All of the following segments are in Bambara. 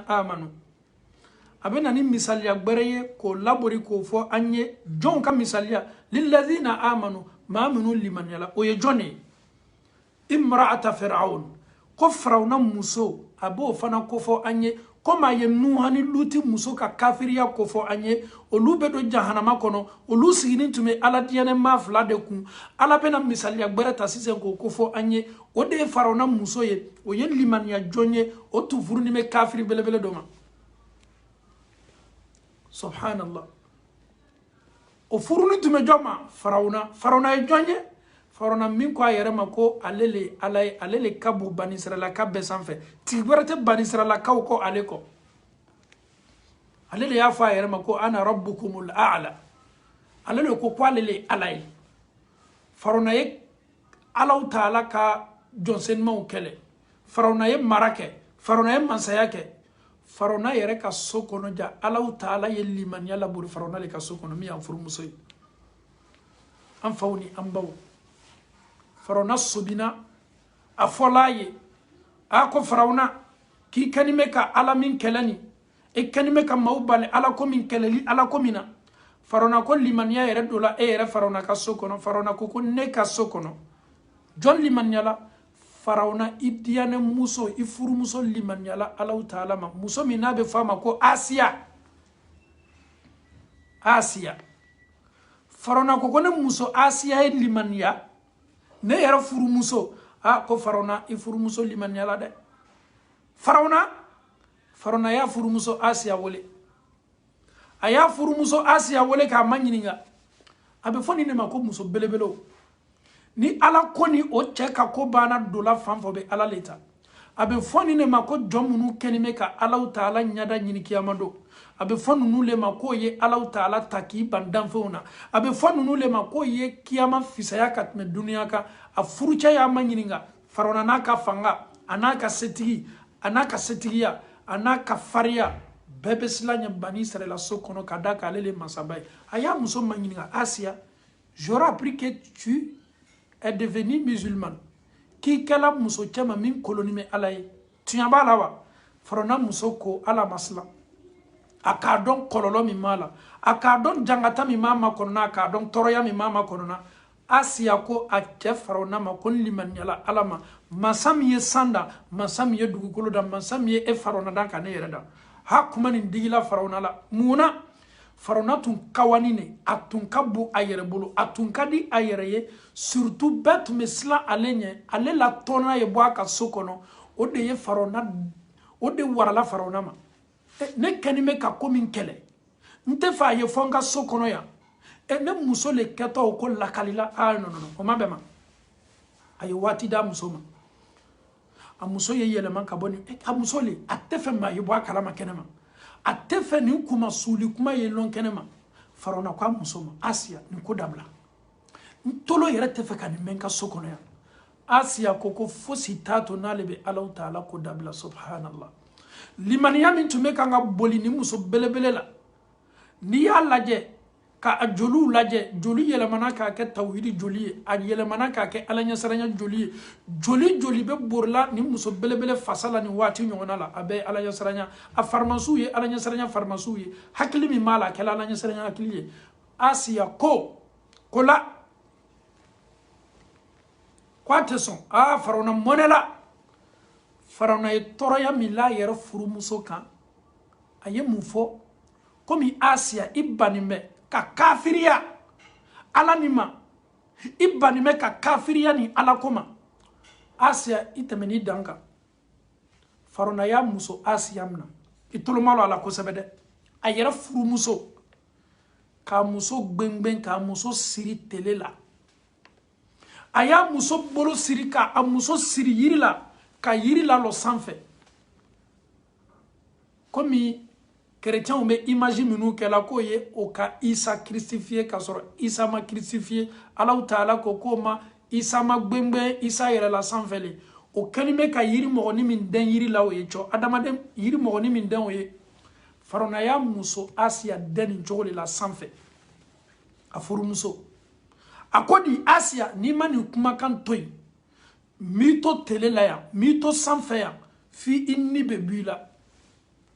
amanu a bɛ na ni misaliya gbɛrɛ ye k'o labori k'o fɔ an ye jɔnw ka misaliya lilazina amanu maa minnu limaniyala o ye jɔn de ye imra'ata fir'aun ko firawuna muso a b'o fana kofɔ an ye komi a ye nuha ni luti muso ka kafiriya kofɔ an ye olu bɛ don jahanama kɔnɔ olu siginin tun bɛ ala diyanɛmaa fila de kun ala bɛna misaliya gbɛrɛ ta sisan k'o kofɔ an ye o de ye farawuna muso ye o ye limaniya jɔn ye o tun furunin bɛ kafiri belebele dɔ ma subhanallah o furunin tun bɛ jɔn ma farawuna farawuna ye jɔn ye farawuna min ko a yɛrɛ ma ko ale le ala ye ale le ka bon banisiralakaw bɛɛ sanfɛ tigi wɛrɛ tɛ banisiralakaw kɔ ale kɔ ale de y'a fɔ a yɛrɛ ma ko ana rabbukumul a'la ale de ko ko ale le ala ye farawuna ye alahu taala ka jɔn senumaw kɛlɛ farawuna ye mara kɛ farawuna ye mansaya kɛ farawuna yɛrɛ ka so kɔnɔ ja alahu taala ye limaniya labori farawuna le ka so kɔnɔ min y'a furumuso ye an faw ni an baw farawuna sɔbina a fɔla a ye a ko farawuna k'i kɛnin bɛ ka ala min kɛlɛ nin e kɛnin bɛ ka maaw bali ala ko min kɛlɛli ala ko min na farona ko limaniya yɛrɛ donna e yɛrɛ farona ka so kɔnɔ farona ko ko ne ka so kɔnɔ jɔn limaniyala farawuna i diyanɛ muso i furumuso limaniyala alahu taala ma muso min n'a bɛ fɔ a ma ko asiya asiya farona ko ko ne muso asiya ye limaniya ne yɛrɛ furumuso a ko farona i furumuso limaniyala dɛ farona farona y'a furumuso asiya wele a y'a furumuso asiya wele k'a maɲininka a bɛ fɔ nin de ma ko muso belebelew ni ala ko ni o cɛ ka ko banna dola fan f'o bɛ ala le ta a bɛ fɔ nin de ma ko jɔn minnu kɛnin bɛ ka alahu taala ɲada ɲini kiyama don a bɛ fɔ ninnu le ma k'o ye alahu taala ta k'i ban danfɛnw na a bɛ fɔ ninnu le ma k'o ye kiyama fisaya ka tɛmɛ duniya kan a furucɛ y'a maɲininka farawuna n'a ka fanga a n'a ka setigi a n'a ka setigiya a n'a ka fariya bɛɛ bɛ silan a ɲɛ banisirayila so kɔnɔ ka da k'ale le masaba ye a y'a muso maɲininka asiya j'aurais appris que tu es devenue musulmane k'i kɛla muso cɛma min kolonin bɛ ala ye tiɲɛ b'a la wa farona muso ko ale ma silan a k'a dɔn kɔlɔlɔ min b'a la a k'a dɔn jangata min b'a makɔnɔna a k'a dɔn tɔɔrɔya min b'a makɔnɔna asiya ko a cɛ farawuna ma ko n limaniyala ala ma masa min ye san da masa min ye dugukolo da masa min ye e farawuna da ka ne yɛrɛ da ha kuma nin digila farawuna la mun na farawuna tun kawani ne a tun ka bon a yɛrɛ bolo a tun ka di a yɛrɛ ye surutu bɛɛ tun bɛ silan ale ɲɛ ale la tɔnna ye bɔ a ka so kɔnɔ o de ye farawuna o de warala farawuna ma ne kɛnin bɛ ka ko min kɛlɛ n tɛ fɛ a ye fɔ n ka so kɔnɔ yan ne muso le kɛtɔ o ko lakali la aa nɔnɔnɔ o ma bɛn a ma a ye waati d'a muso ma a muso ye yɛlɛma ka bɔ ni a muso le a tɛ fɛ maa ye bɔ a kalama kɛnɛ ma a tɛ fɛ nin kuma suuli kuma ye lɔn kɛnɛ ma farawuna ko a muso ma asiya nin ko dabila n tolo yɛrɛ tɛ fɛ ka nin mɛn n ka so kɔnɔ yan asiya ko ko fosi t'a to n'ale bɛ alahu taala ko dabila subhanallah limaniya min tun bɛ kan ka boli nin muso belebele la n'i y'a lajɛ ka a joliw lajɛ joli yɛlɛmana k'a kɛ tawhidi joli ye a yɛlɛmana k'a kɛ ala ɲɛsiranya joli ye joli joli bɛ borila nin muso belebele fasa la nin waati ɲɔgɔnna la a bɛɛ ye ala ɲɛsiranya a farimasiw ye ala ɲɛsiranya farimasiw ye hakili min b'a la a kɛla ala ɲɛsiranya hakili ye asiya ko ko la ko a tɛ sɔn aa farawuna mɔnɛla farawuna ye tɔɔrɔya min la a yɛrɛ furumuso kan a ye mun fɔ komi asiya i bannen bɛ ka kafiriya ala nin ma i bannen bɛ ka kafiriya nin ala ko ma asiya i tɛmɛn'i dan kan farawuna y'a muso asiya minɛ i tolomalɔ a la kosɛbɛ dɛ a yɛrɛ furumuso k'a muso gbengben k'a muso siri tele la a y'a muso bolo siri k'a muso siri yiri la ka yiri lalɔ sanfɛ komi kerecɛnw bɛ imaji minnu kɛla k'o ye o ka isa kirisifiye k'a sɔrɔ isa ma kirisifiye alahu taala ko k'o ma isa ma gbengben isa yɛrɛla sanfɛ le o kɛlen bɛ ka yiri mɔgɔni min dɛn yiri la o ye cɔ adamaden yiri mɔgɔni min dɛn o ye Faraona y'a muso Asiya dɛn nin cogo le la sanfɛ a furumuso a ko di Asiya n'i ma nin kumakan to yen n b'i to tele la yan n b'i to sanfɛ yan f'i i ni bɛ bɔ i la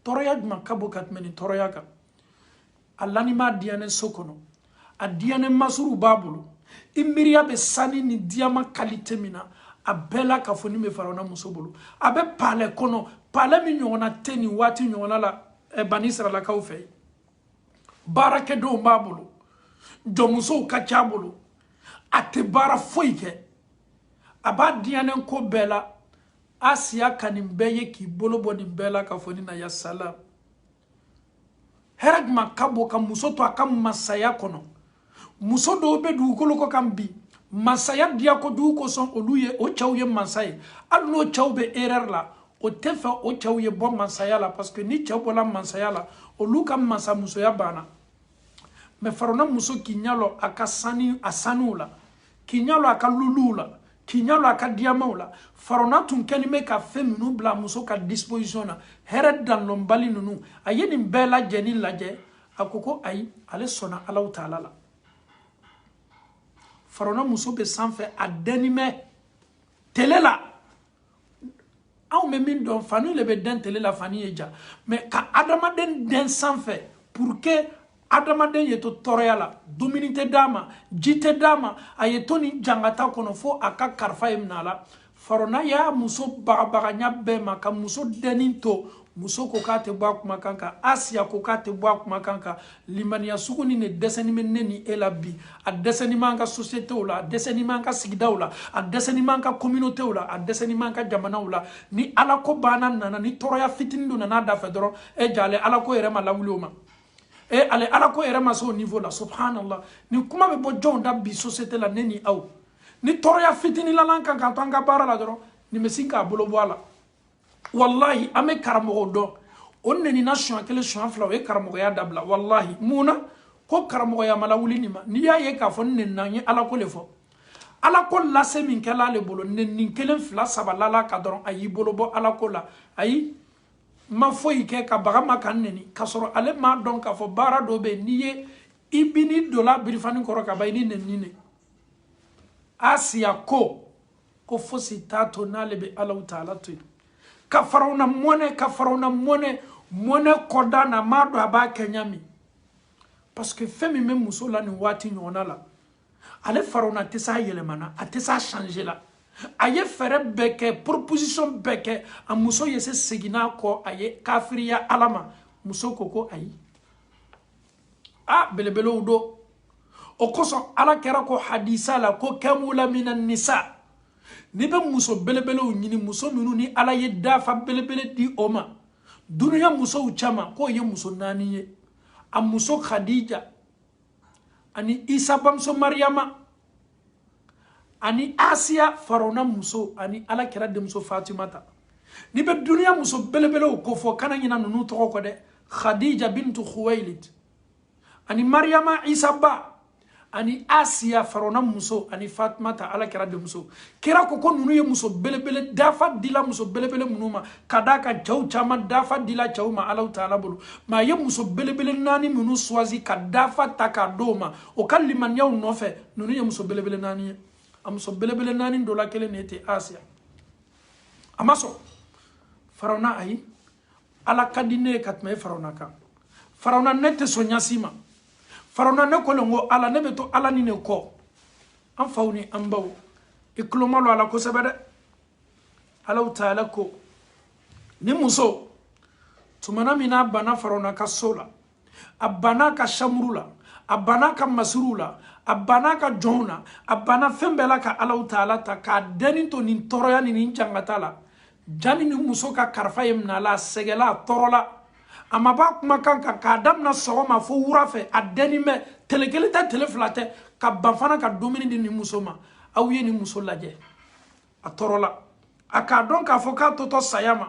tɔɔrɔya jumɛn ka bon ka tɛmɛ nin tɔɔrɔya kan a lanin b'a diyanen so kɔnɔ a diyanen masiriw b'a bolo i miiriya bɛ sani ni diyaman kalite min na a bɛɛ lakafonin bɛ farawuna muso bolo a bɛ palɛ kɔnɔ palɛ min ɲɔgɔnna tɛ nin waati ɲɔgɔnna la eh, bani isirayilakaw fɛ baarakɛdenw b'a bolo jɔnmusow ka ca a bolo a tɛ baara foyi kɛ a b'a diyanen ko bɛɛ la asiya ka nin bɛɛ ye k'i bolo bɔ nin bɛɛ lakafonin na ya salam hɛrɛ juman ka bon ka muso to a ka masaya kɔnɔ muso dɔw bɛ dugukolo kɔ kan bi masaya diya ko jugu kosɔn olu ye o cɛw ye masa ye hali n'o cɛw bɛ erreur la o t'a fɛ o cɛw ye bɔ masaya la parce que ni cɛw bɔla masaya la olu ka masamusoya banna mais farawuna muso k'i ɲalɔ a ka saniw la k'i ɲalɔ a ka luluw la k'i ɲalɔ a ka diyamaw la farawuna tun kɛlen bɛ ka fɛn ninnu bila muso ka disposition na hɛrɛ danlɔnbali ninnu a ye nin bɛɛ lajɛlen lajɛ a ko ko ayi ale sɔnna alahu taala la farawuna muso bɛ sanfɛ a dɛnni bɛ tele la anw bɛ min dɔn fani le bɛ dɛn tele la fani ye ja mais ka adamaden dɛn sanfɛ pour que adamaden ye to tɔɔrɔya la dumuni tɛ d'a ma ji tɛ d'a ma a ye to nin jangata kɔnɔ fo a ka karifa ye minɛ a la farawuna y'a muso bagabaga ɲa bɛɛ ma ka muso dɛnni to muso ko k'a tɛ bɔ a kumakan kan asiya ko k'a tɛ bɔ a kumakan kan limaniya sugu nin de dɛsɛni bɛ ne ni e la bi a dɛsɛni b'an ka sosiyete la a dɛsɛni b'an ka sigidaw la a dɛsɛni b'an ka kominotew la a dɛsɛni b'an ka jamanaw la ni ala ko banna nana ni tɔɔrɔya fitinin dɔ nana da fɛ dɔrɔn e ja ale ala ko yɛrɛ ma lawuli o ma e ale ala ko yɛrɛ ma se o nivo la subhanallah nin kuma bɛ bɔ jɔnw da bi sosiyete la ne ni aw ni tɔɔrɔya fitinin lal'an kan k'an to an ka baara la dɔrɔn nin bɛ sin k'a bolo bɔ a la walahi an bɛ karamɔgɔ dɔn o nenina siɲɛ kelen siɲɛ fila o ye karamɔgɔya dabila walahi mun na ko karamɔgɔya ma lawuli nin ma n'i y'a ye k'a fɔ n nenina n ye ala ko le fɔ ala ko lase min kɛla ale bolo nenni kelen fila saba lala a kan dɔrɔn a y'i bolo bɔ ala ko la ayi n ma foyi kɛ ka baga n ma ka n neni k'a sɔrɔ ale m'a dɔn k'a fɔ baara dɔ bɛ yen n'i ye i bi n'i donna birifani kɔrɔ ka ban i ni nenni ne asiya ko ko fosi t'a to n'ale bɛ alahu taala to yen ka farawuna mɔnɛ ka farawuna mɔnɛ mɔnɛ kɔda na m'a dɔn a b'a kɛ ɲa min parce que fɛn min bɛ muso la nin waati ɲɔgɔnna la ale farawuna tɛ s'a yɛlɛma na a tɛ s'a changer la a ye fɛɛrɛ bɛɛ kɛ proposition bɛɛ kɛ a muso ye se seginna kɔ a ye kafiriya ala ma muso ko ko ayi a belebelew don o kosɔn ala kira ko hadisa la ko kamula mina nisa n'i bɛ muso belebelew ɲini muso minnu ni ala ye dafa belebele di o ma duniya musow cɛma k'o ye muso naani ye a muso khadija ani isa bamuso mariyama ani asiya farawuna muso ani ala kira denmuso fatimata n'i bɛ duniya muso belebelew ko fɔ kana ɲina ninnu tɔgɔ kɔ dɛ khadija bintu khuwailid ani mariyama isa ba ani asiya farawuna muso ani fatimata ala kira denmuso kira ko ko ninnu ye muso belebele dafa dila muso belebele minnu ma k'a d'a kan cɛw caman dafa dila cɛw ma alaw taala bolo mais a ye muso belebele naani minnu choisi ka dafa ta k'a d'o ma o ka limaniyaw nɔfɛ ninnu ye muso belebele naani ye a muso belebele naani dɔ la kelen de tɛ asiya a ma sɔn farawuna ayi ala ka di ne ye ka tɛmɛ e farawuna kan farawuna ne tɛ sɔn ɲa si ma farawuna ne ko le ko ala ne bɛ to ala ni ne kɔ an faw ni an baw i tulo malɔ a la kosɛbɛ dɛ alaw taala ko nin muso tumana min n'a banna farawuna ka so la a banna ka samuru la a banna ka masiriw la a banna ka jɔnw na a banna fɛn bɛɛ la ka alaw taala ta k'a dɛni to nin tɔɔrɔya ni nin jangata la jani nin muso ka karifa ye minɛ a la a sɛgɛla a tɔɔrɔla a ma b'a kumakan kan k'a damina sɔgɔma fo wura fɛ a dɛni bɛ tele kelen tɛ tele fila tɛ ka ban fana ka dumuni di nin muso ma aw ye nin muso lajɛ a tɔɔrɔla a k'a dɔn k'a fɔ k'a totɔ saya ma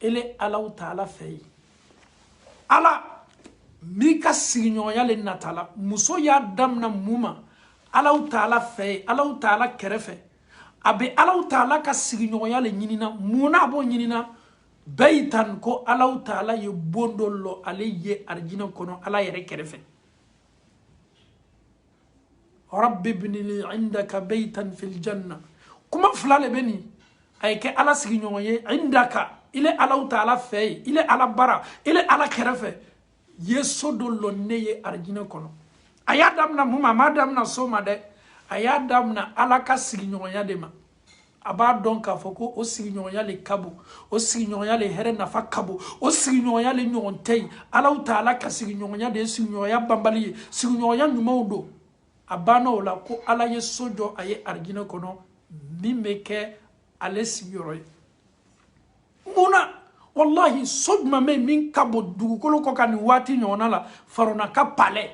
e le alaw taala fɛ yen ala min ka sigiɲɔgɔnya le natala muso y'a damina mun ma alaw taala fɛ yen alaw taala kɛrɛfɛ a bɛ alaw taala ka sigiɲɔgɔnya le ɲinina mun na a b'o ɲinina bɛɛ y'i tan ko alaw taala ye bon dɔ lɔ ale ye arijinɛ kɔnɔ ala yɛrɛ kɛrɛfɛ rabbi ibni li indaka baytan fil janna kuma fila le bɛ nin a ye kɛ ala sigiɲɔgɔn ye indaka i le alaw taala fɛ yen i le ala bara i le ala kɛrɛfɛ ye so dɔ lɔ ne ye arijinɛ kɔnɔ a y'a damina mun ma a m'a damina so ma dɛ a y'a damina ala ka sigiɲɔgɔnya de ma a b'a dɔn k'a fɔ ko o sigiɲɔgɔnya le ka bon o sigiɲɔgɔnya le hɛrɛ nafa ka bon o sigiɲɔgɔnya le ɲɔgɔn tɛ yen alaw taala ka sigiɲɔgɔnya de ye sigiɲɔgɔnya banbali ye sigiɲɔgɔnya ɲumanw don a banna o la ko ala ye so jɔ a ye arijinɛ kɔnɔ min bɛ kɛ ale sigiyɔrɔ ye mun na walahi so jumɛn bɛ yen min ka bon dugukolo kɔ kan nin waati ɲɔgɔnna la farawuna ka palais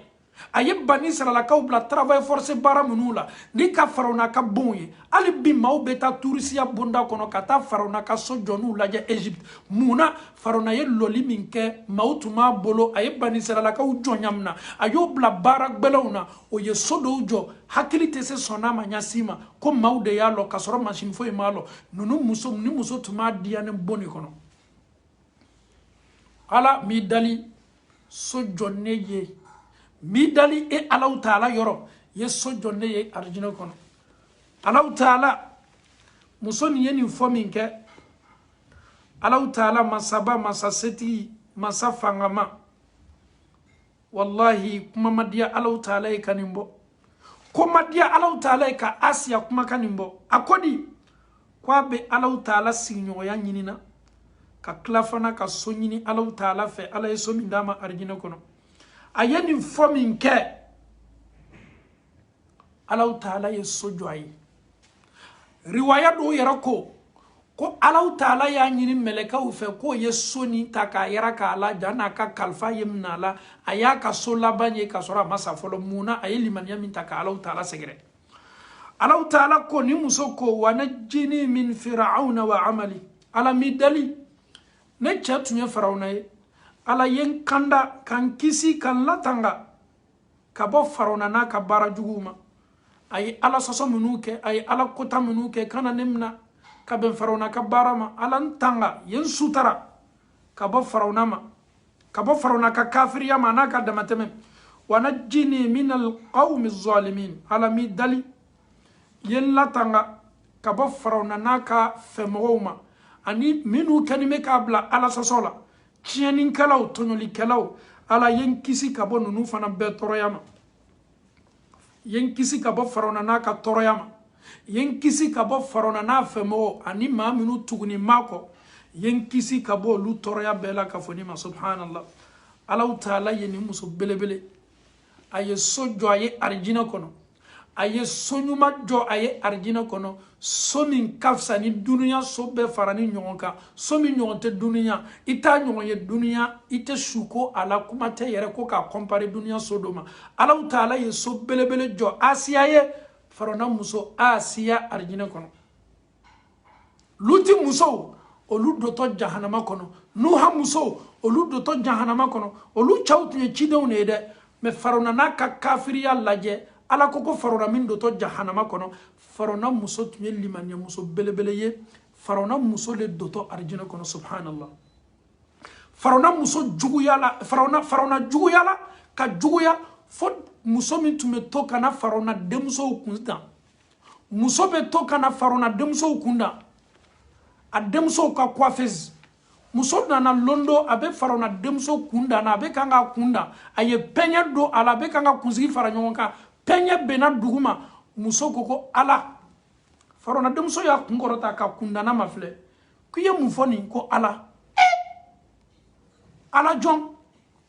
a ye bani isirayilakaw bila travail forcé baara minnu la ni ka farawuna ka bonw ye hali bi maaw bɛ taa turisiya bonda kɔnɔ ka taa farawuna ka so jɔniw lajɛ egypte mun na farawuna ye lɔli min kɛ maaw tun b'a bolo a ye bani isirayilakaw jɔnya mina a y'o bila baara gbɛlɛnw na o ye so dɔw jɔ hakili tɛ se sɔn a ma ɲa si ma ko maaw de y'a lɔ ka sɔrɔ masini foyi m'a lɔ ninnu muso nin muso tun b'a diyanen bon de kɔnɔ ala m'i dali so jɔ ne ye m'i dali e alaw taala yɔrɔ ye so jɔ ne ye arijinɛ kɔnɔ alaw taala muso nin ye nin fɔ min kɛ alaw taala masaba masa setigi masa fangama walahi kuma ma diya alaw taala ye ka nin bɔ ko ma diya alaw taala ye ka asiya kumakan nin bɔ a ko di ko a bɛ alaw taala sigiɲɔgɔnya ɲini na ka tila fana ka so ɲini alaw taala fɛ ala ye so min d'a ma arijinɛ kɔnɔ a ye nin fɔ min kɛ alaw taala ye so jɔ a ye riwaya dɔw yɛrɛ ko ko alaw taala y'a ɲini mɛlɛkɛw fɛ k'u ye so nin ta k'a yiraka a la yan'a ka kalifa ye minɛ a la a y'a ka so laban ye k'a sɔrɔ a ma sa fɔlɔ mun na a ye limaniya min ta ka alaw taala sɛgɛrɛ alaw taala ko nin muso ko wa najini min firawuna wa amali ala m'i dali ne cɛ tun ye firawuna ye ala ye n kanda ka n kisi ka n latanga ka bɔ farona n'a ka baara juguw ma a ye ala sɔsɔ minnu kɛ a ye ala kota minnu kɛ kana ne mina ka bɛn farona ka baara ma ala n tanga ye n sutara ka bɔ farona ma ka bɔ farona ka kafiriya ma n'a ka damatɛmɛ wa najini minal qawmi zalimin ala m'i dali ye n latanga ka bɔ farona n'a ka fɛmɔgɔw ma ani minnu kɛni bɛ k'a bila ala sɔsɔ la tiɲɛnikɛlaw tɔɲɔlikɛlaw ala ye n kisi ka bɔ ninnu fana bɛɛ tɔɔrɔya ma ye n kisi ka bɔ farawuna n'a ka tɔɔrɔya ma ye n kisi ka bɔ farawuna n'a fɛmɔgɔw ani maa minnu tugunin b'a kɔ ye n kisi ka bɔ olu tɔɔrɔya bɛɛ la ka fɔ ni ma subhanallah alaw taala ye nin muso belebele a ye so jɔ a ye arijinɛ kɔnɔ a ye so ɲuman jɔ a ye arijinɛ kɔnɔ so min ka fisa ni dunuya so bɛɛ faranin ɲɔgɔn kan so min ɲɔgɔn tɛ dunuya i t'a ɲɔgɔn ye dunuya i tɛ suko a la kuma tɛ yɛrɛ ko k'a kɔnpare dunuya so dɔ ma alaw taala ye so belebele jɔ asiya ye farawuna muso asiya arijinɛ kɔnɔ luti musow olu dotɔ jahanama kɔnɔ nuha musow olu dotɔ jahanama kɔnɔ olu cɛw tun ye cidenw de ye dɛ mɛ farona n'a ka kafiriya lajɛ ala ko ko farona min dotɔ jahanama kɔnɔ farona muso tun ye limaniya muso belebele ye farona muso de dotɔ arijinɛ kɔnɔ subhanallah farona muso juguyala farona farona juguyala ka juguya fo muso min tun bɛ to ka na farona denmusow kun dan muso bɛ to ka na farona denmusow kun dan a denmusow ka coiffeuse muso nana lon dɔ a bɛ farona denmuso kun dan na a bɛ kan k'a kun dan a ye pɛɲɛ don a la a bɛ kan ka kunsigi fara ɲɔgɔn kan pɛɲɛ benna dugu ma muso ko ko ala farona denmuso y'a kun kɔrɔta ka kundanna mafilɛ k'i ye mun fɔ nin ko ala ala jɔn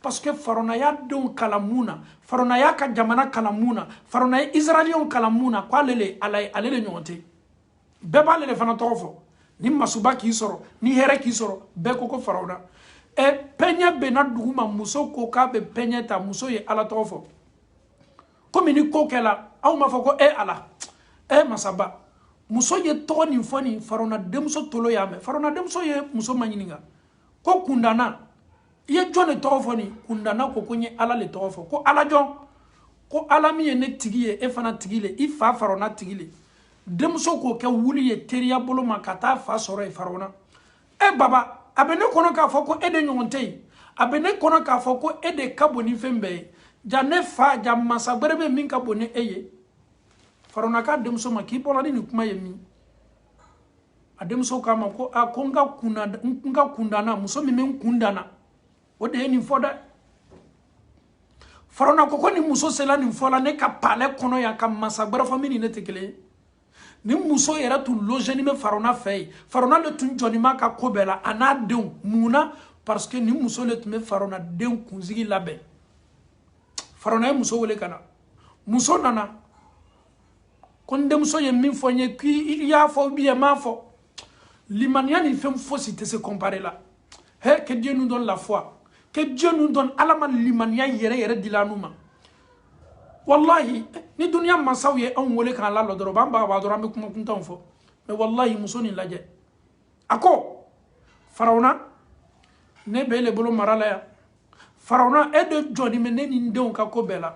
parce que farona y'a denw kalan mun na farona y'a ka jamana kalan mun na farona ye israɛliyɛnw kalan mun na ko ale le ala ye ale le ɲɔgɔn tɛ bɛɛ b'ale le fana tɔgɔ fɔ ni masiba k'i sɔrɔ ni hɛrɛ k'i sɔrɔ bɛɛ ko ko farona ɛ e, pɛɲɛ benna dugu ma muso ko k'a bɛ pɛɲɛ ta muso ye ala tɔgɔ fɔ komi ni ko kɛla anw b'a fɔ ko e ala e masaba muso ye tɔgɔ nin fɔ nin farona denmuso tolo y'a mɛn farona denmuso ye muso maɲininka ko kundanna i ye jɔn de tɔgɔ fɔ nin kundanna ko ko n ye ala le tɔgɔ fɔ ko ala jɔn ko ala min ye ne tigi ye e fana tigi le i fa farona tigi le denmuso k'o kɛ wuli ye teliya bolo ma ka taa fa sɔrɔ ye farona e baba a bɛ ne kɔnɔ k'a fɔ ko e de ɲɔgɔn tɛ yen a bɛ ne kɔnɔ k'a fɔ ko e de ka bon ni fɛn bɛɛ ye jaa ne fa jaa masa gbɛrɛ bɛ min ka bon ni e ye farona k'a denmuso ma k'i bɔra ni nin kuma ye min a denmuso k'a ma ko a ko n ka kunda n ka kundanna muso min bɛ n kun dan na o de ye nin fɔ dɛ farona ko ko nin muso sela nin fɔ la ne ka palɛ kɔnɔ yan ka masa gbɛrɛ fɔ min ni ne tɛ kelen ye nin muso yɛrɛ tun logeni bɛ farona fɛ yen farona de tun jɔnin b'a ka ko bɛɛ la a n'a denw mun na parce que nin muso de tun bɛ farona den kunsigi labɛn farona ye muso wele ka na muso nana ko n denmuso ye min fɔ n ye k'i y'a fɔ ou bien i m'a fɔ limaniya ni fɛn fosi tɛ se kɔnpare la he que dieu nous donne la foi que dieu nous donne ala ma limaniya yɛrɛ yɛrɛ dila anu ma walahi ni duniya mansaw ye anw wele k'an lalɔ dɔrɔn b'an bagabaga dɔrɔn an bɛ kuma kuntanw fɔ mɛ walahi muso nin lajɛ a ko farawuna ne b'e le bolo mara la yan farawuna e de jɔnin bɛ ne ni n denw ka ko bɛɛ la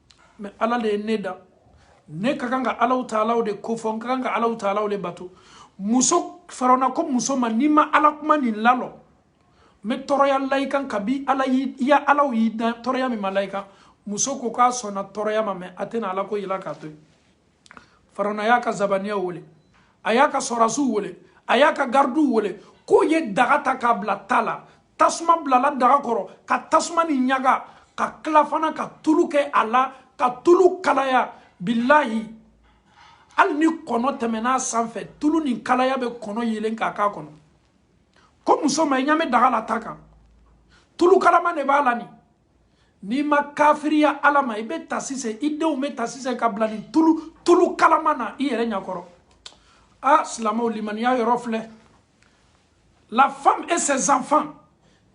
mɛ ala de ye ne dan ne ka kan ka alahu taala de kofɔ n ka kan ka alahu taala de bato muso farona ko muso ma n'i ma ala kuma nin lalɔ n bɛ tɔɔrɔya la i kan kabi ala y'i ya ala y'i dan tɔɔrɔya min ma la i kan muso ko k'a sɔnna tɔɔrɔya ma mɛ a tɛna ala ko bila k'a to yen farona y'a ka zabaniya wele a y'a ka sɔrasiw wele a y'a ka garidiw wele k'o ye daga ta k'a bila ta la tasuma bilala daga kɔrɔ ka tasuma nin ɲaga ka tila fana ka tulu kɛ a la ka tulu kalaya bilahi hali ni kɔnɔ tɛmɛna a sanfɛ tulu nin kalaya bɛ kɔnɔ yeelen k'a k'a kɔnɔ ko muso ma i ɲɛ bɛ daga la ta kan tulu kalama de b'a la nin n'i ma kafiriya ala ma i bɛ ta sisan i denw bɛ ta sisan ka bila nin tulu tulu kalama na i yɛrɛ ɲɛkɔrɔ a silamɛw limaniya yɔrɔ filɛ la femme et ses enfants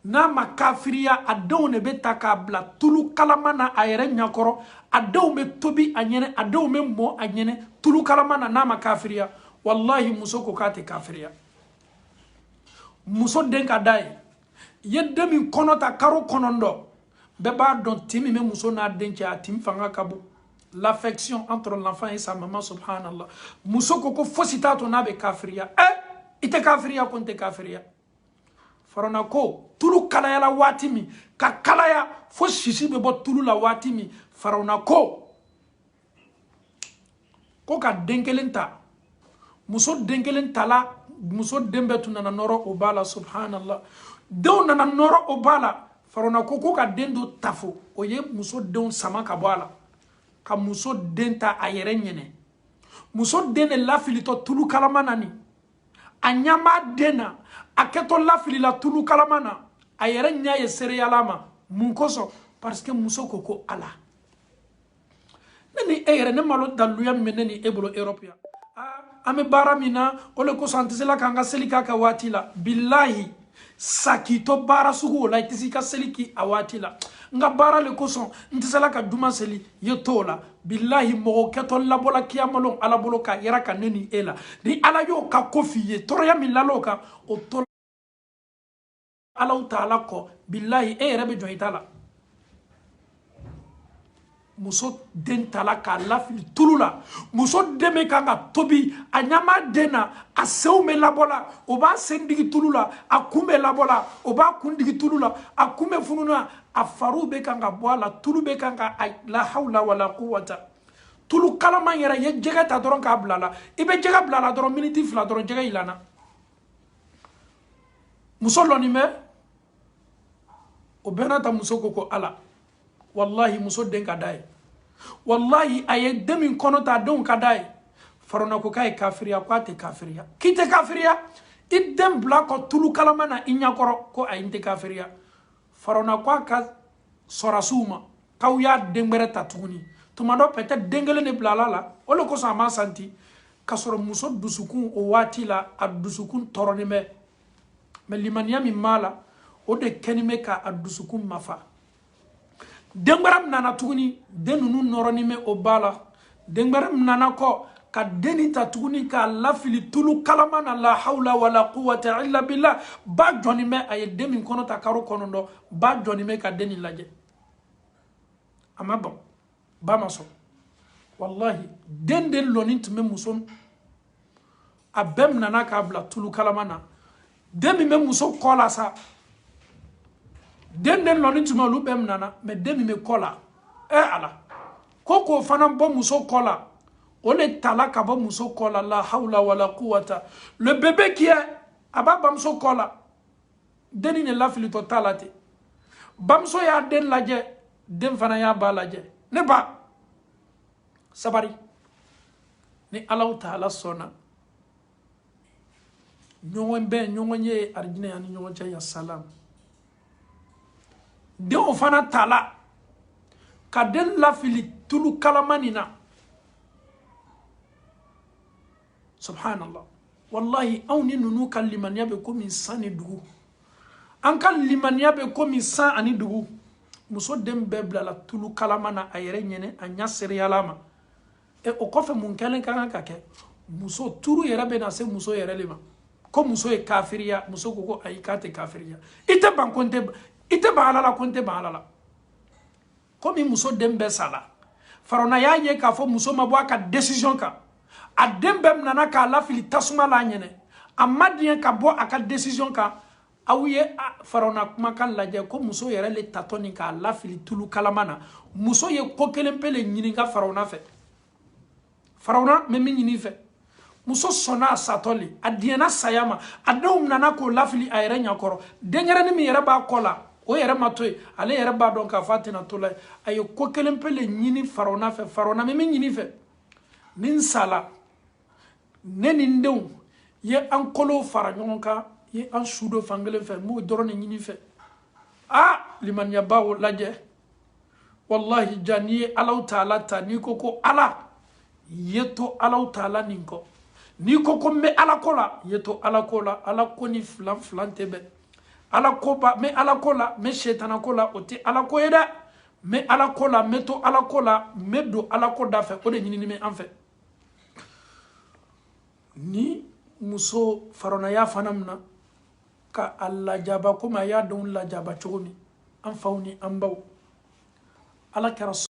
n'a ma kafiriya a denw de bɛ ta ka bila tulu kalama na a yɛrɛ ɲɛkɔrɔ a denw bɛ tobi a ɲɛnɛ a denw bɛ mɔ a ɲɛnɛ tulu kalama na n'a ma kafiriya walahi muso ko k'a tɛ kafiriya muso den ka d'a ye i ye den min kɔnɔ ta karo kɔnɔntɔn bɛɛ b'a dɔn tin min bɛ muso n'a den cɛ a tin fanga ka bon l'affection entre l'enfant et sa maman subhanallah muso ko ko fosi t'a to n'a bɛ kafiriya ɛ i tɛ kafiriya ko n tɛ kafiriya farona ko tulu kalayala waati min ka kalaya fo sisi bɛ bɔ tulu la waati min farona ko ko ka den kelen ta muso den kelen tala muso den bɛɛ tun nana nɔrɔ o ba la subhanallah denw nana nɔrɔ o ba la farona ko ko ka den dɔ ta fo o ye muso denw sama ka bɔ a la ka muso den ta a yɛrɛ ɲɛnɛ muso den de lafilitɔ tulu kalama na ni a ɲɛ b'a den na a kɛtɔ lafilila tulu kalama na a yɛrɛ ɲɛ ye seereya la mais mun kosɔn parce que muso ko ko ala ne ni e yɛrɛ ne m'a lɔn daluya min bɛ ne ni e bolo europe yan an bɛ baara min na o de kosɔn an tɛ se la k'an ka seli kɛ a ka waati la bilahi sa k'i to baara sugu o la i tɛ se i ka seli kɛ a waati la n ka baara le kosɔn n tɛ se la ka juma seli i ye to o la bilahi mɔgɔ kɛtɔ labɔla kiyama lon ala bolo k'a yiraka ne ni e la ni ala y'o ka ko f'i ye tɔɔrɔya min lal'o kan o to alaw taala kɔ bilahi e yɛrɛ bɛ jɔn i ta la muso den tala ka lafili tulu la muso den bɛ kan ka tobi a ɲɛ b'a den na a senw bɛ labɔ la o b'a sen digi tulu la a kun bɛ labɔ la o b'a kun digi tulu la a kun bɛ funu na a fariw bɛ kan ka bɔ a la tulu bɛ kan ka a la hawla wala quwwata tulu kalaman yɛrɛ i ye jɛgɛ ta dɔrɔn k'a bila a la i bɛ jɛgɛ bila a la dɔrɔn miniti fila dɔrɔn jɛgɛ yilanna muso lɔnin bɛ o bɛɛ n'a ta muso ko ko ala walahi muso den ka d'a ye walahi a ye den min kɔnɔ ta a denw ka d'a ye farona ko k'a ye kafiriya ko a tɛ kafiriya k'i tɛ kafiriya i den bila kɔ tulu kalama na i ɲɛkɔrɔ ko ayi n tɛ kafiriya farona ko a ka sɔrasiw ma k'aw y'a den gbɛrɛ ta tuguni tuma dɔ peut-être den kelen de bilala la o le kosɔn a ma santi k'a sɔrɔ muso dusukun o waati la a dusukun tɔɔrɔlen bɛ mais limaniya min b'a la o de kɛnin bɛ k'a dusukun mafa den gbɛrɛ nana tuguni den ninnu nɔrɔnin bɛ o ba la den gbɛrɛ minana kɔ ka deni ta tuguni k'a lafili tulu kalama na la hawla wala quwata illa billah ba jɔni bɛ a ye den min kɔnɔ ta karo kɔnɔntɔn ba jɔni bɛ ka deni lajɛ a ma bɔn ba ma sɔn wallahi den de lɔni tun bɛ muso a bɛɛ minana k'a bila tulu kalama na den min bɛ muso kɔ la sa den den lɔni tun bɛ olu bɛɛ minana mɛ den min bɛ kɔ la ɛ eh, ala ko k'o fana bɔ muso kɔ la o le tala ka bɔ muso kɔ la la hawla wala quwata le bébé qui est a b'a bamuso kɔ la denni de lafilitɔ ta la ten bamuso y'a den lajɛ den fana y'a ba lajɛ ne ba sabari ni allahu taala sɔnna ɲɔgɔn bɛ ɲɔgɔn ye arijinɛ y'an ni ɲɔgɔn cɛ ya salam den o fana tala ka den lafili tulu kalama nin na subhanallah wallahi anw ni ninnu ka limaniya bɛ komi san ni dugu an ka limaniya bɛ komi san ani dugu muso den bɛɛ bilala tulu kalama na a yɛrɛ ɲɛ na a ɲa sereyala ma o kɔfɛ mun kɛlen ka kan ka kɛ muso turu yɛrɛ bɛ na se muso yɛrɛ le ma ko muso ye kafiriya muso ko ko ayi k'a tɛ kafiriya i tɛ ban ko n tɛ i tɛ ban ala la ko n tɛ ban ala la komi muso den bɛɛ sala farawuna y'a ye k'a fɔ muso ma bɔ a ka desizɔn kan a den bɛɛ minana k'a lafili tasuma la a ɲɛ na a ma diɲɛ ka bɔ a ka desizɔn kan aw ye farawuna kumakan lajɛ ko muso yɛrɛ le tatɔ nin k'a lafili tulu kalama na muso ye ko kelen pe le ɲininka farawuna fɛ farawuna n bɛ min ɲini i fɛ muso sɔnna a satɔ le a diɲɛna saya ma a denw minana k'o lafili a yɛrɛ ɲakɔrɔ denyɛrɛni min yɛrɛ b'a kɔ la o yɛrɛ ma to yen ale yɛrɛ b'a dɔn k'a fɔ a tɛna to la yen a ye ko kelen pe le ɲini farawuna fɛ farawuna n bɛ min ɲini i fɛ ni n sala ne ni n denw i ye an kolow fara ɲɔgɔn kan ye an su don fankelen fɛ n b'o dɔrɔn de ɲini i fɛ aa limaniyaba o lajɛ wallahi ja n'i ye allahu taala ta n'i ko ko ala i ye to allahu taala nin kɔ n'i ko ko n bɛ ala ko la i ye to ala ko la ala ko ni filan filan tɛ bɛn ala ko ba n bɛ ala ko la n bɛ setana ko la o tɛ ala ko ye dɛ n bɛ ala ko la n bɛ to ala ko la n bɛ don ala ko da fɛ o de ɲinini bɛ an fɛ ni muso faranaya fana min na ka a lajaba komi a y'a denw lajaba cogo min an faw ni an baw ala kɛra